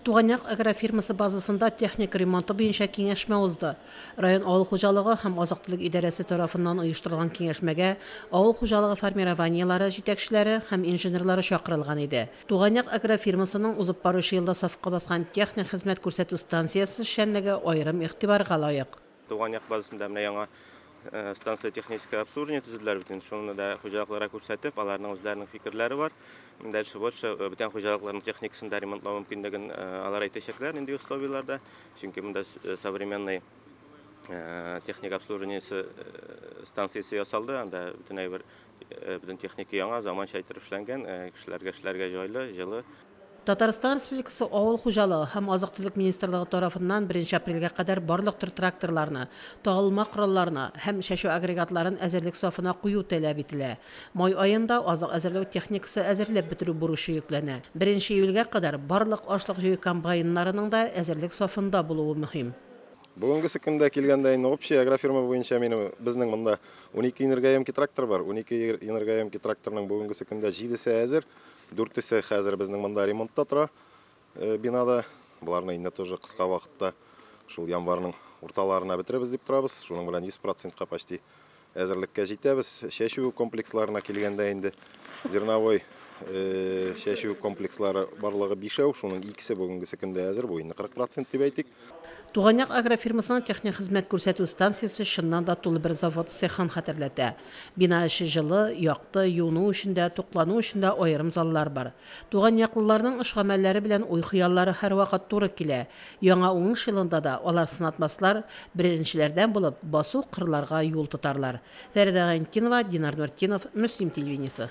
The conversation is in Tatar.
Туганъяк агрофирмасы базасында техника ремонты буенча киңәшмә узды. Район авыл хуҗалыгы һәм азык-төлек идарәсе тарафыннан оештырылган киңәшмәгә авыл хуҗалыгы формированиеләре җитәкчеләре һәм инженерлары чакырылган иде. Туганъяк агрофирмасының узып баручы елда сафка баскан техник хезмәт күрсәтү станциясе эшчәнлеге аерым игътибарга лаек. Туган як базасында менә яңа станция техническое обслуживание төзеделәр бит. Шуны да хуҗалыкларга күрсәтеп, аларның үзләренең фикерләре бар. Дальше вот бүтән хуҗалыкларның техникасын да ремонтлау мөмкинлеген алар әйтәчәкләр нинди условияләрдә. Чөнки монда современный техник обслуживание станциясе ясалды. Анда бүтән әйбер, бүтән техника яңа, заманча итеп эшләнгән, кешеләргә эшләргә җайлы, җылы. Татарстан Республикасы Авыл хуҗалыгы һәм азык-төлек министрлыгы тарафыннан беренче апрельгә кадәр барлык төр тракторларны, тагылма коралларны һәм чәчү агрегатларын әзерлек сафына кую таләп ителә. Май аенда азык әзерләү техникасы әзерләп бетерү бурычы йөкләнә. Беренче июльгә кадәр барлык ашлык җыю комбайннарының да әзерлек сафында булуы мөһим. Бүгенгесе көндә килгәндә, инде общий агрофирма буенча минем, безнең монда унике энергоемкий трактор бар. Унике энергоемкий тракторның бүгенгесе көндә җидесе әзер, Дүртесе хәзер безнең монда ремонтта тора, бинада. Боларны инде тоже кыска вакытта, шул январьның урталарына бетерербез дип торабыз. Шуның белән 100%-ка почти әзерлеккә җитәбез. Чәчү комплексларына килгәндә инде зерновой чәчү комплекслары барлыгы бишәү, шуның икесе бүгенгесе көндә әзер, бу инде 40% дип әйтик. Туган як агрофирмасының техник хезмәт күрсәтү станциясе чыннан да тулы бер завод цехын хәтерләтә. Бина эче җылы, якты, юыну өчен дә, туклану өчен дә аерым заллар бар. Туган яклыларның эш гамәлләре белән уй-хыяллары һәрвакыт туры килә. Яңа уңыш елында да алар сынатмаслар, беренчеләрдән булып, басу кырларга юл тотарлар. Фәридә Гайнтдинова, Динар Нуртдинов, Мөслим телевидениесе.